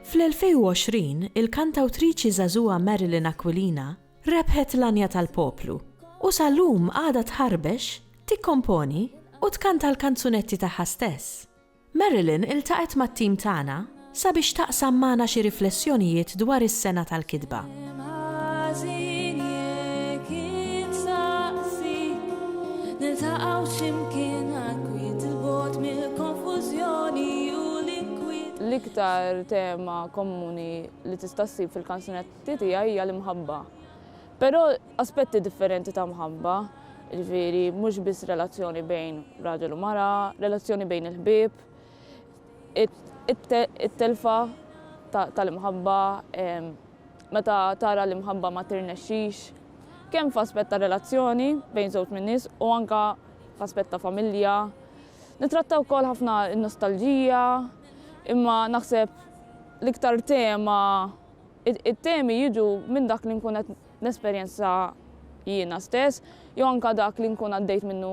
Fl-2020, il-kantawtriċi żagħżugħa Marilyn Aquilina rebħet l-għanja tal-poplu u sal-lum għadha tħarbex, tikkomponi u tkanta l-kanzunetti tagħha stess. Marilyn iltaqgħet mat-tim tagħna sabiex taqsam magħna xi riflessjonijiet dwar is-sena tal-kitba. L-iktar tema komuni li tista' ssib fil-kanzunetti tiegħi hija l-imħabba. Però aspetti differenti ta' mħabba, ġifieri mhux biss relazzjoni bejn raġel u mara, relazzjoni bejn il-ħbieb, it-telfa tal-imħabba, meta tara li mħabba ma tirnexxix, kemm f'aspett ta' relazzjoni bejn żewġ min-nies u anke f'aspett ta' familja. Nitratta wkoll ħafna n-nostalġija, imma naħseb l-iktar tema, it-temi jiġu minn dak li nkun qed nesperjenza jiena stess jew anke dak li nkun għaddejt minnu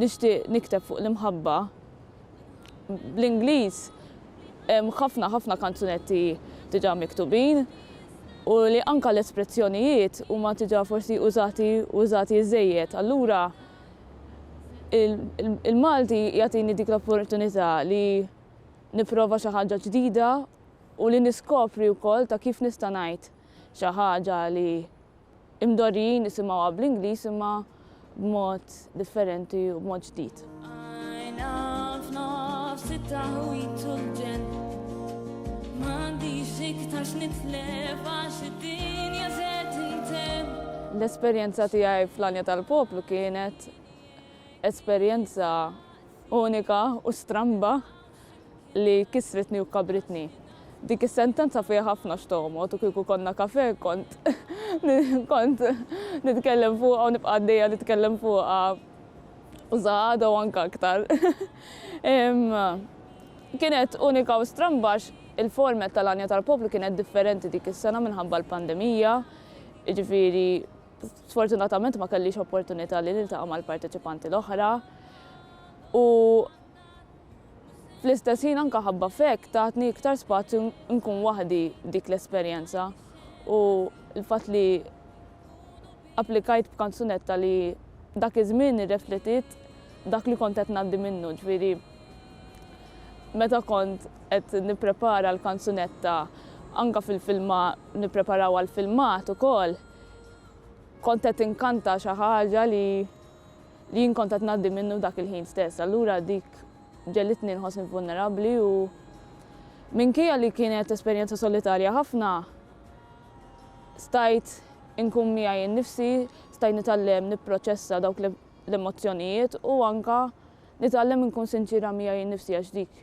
Nixtieq nikteb fuq l-imħabba. Bl-Ingliż hemm ħafna ħafna kanzunetti diġà miktubin u li anke l-esprezzjonijiet huma diġà forsi użati u użati żżejjed. Allura il-Malti jagħtini dik l-opportunità li nipprova xi ħaġa ġdida u li niskopri wkoll ta' kif nista' ngħid xi ħaġa li Imdorrijin nisimgħuha bl-Ingliż imma b'mod differenti u b'mod ġdid. L-esperjenza tiegħi fl-Għanja tal-Poplu kienet esperjenza unika u stramba. li kisritni u kkabritni. Dik is-sentenza fiha ħafna x'toghmod u kieku konna kafè kont kont nitkellem fuqha u nibqa' għaddejja nitkellem fuqha u sa għada u anke aktar. Kienet unika u stramba għax il-format tal-għanja tal-poplu kienet differenti dik is-sena minħabba l-pandemija, jiġifieri sfortunatament ma kellix opportunità li niltaqa' mal-parteċipanti l-oħra u Fl-istess ħin anke ħabba f'hekk tatni iktar spazju nkun waħdi dik l-esperjenza u l-fatt li applikajt b'kanzunetta li dak iż-żmien irrefletiet dak li kont qed ngħaddi minnu, ġifieri meta kont qed nipprepara l-kanzunetta anke fil-filma nippreparaw għall-filmat ukoll kont qed inkanta xi ħaġa li li jien kont qed ngħaddi minnu dak il-ħin stess. Allura dik ġegħlitni nħossni vulnerabbli u minkejja li kienet esperjenza solitarja ħafna, stajt inkun miegħi nnifsi, stajt nitgħallem nipproċessa dawk l-emozzjonijiet u anke nitgħallem inkun sinċiera miegħi nnifsi għax dik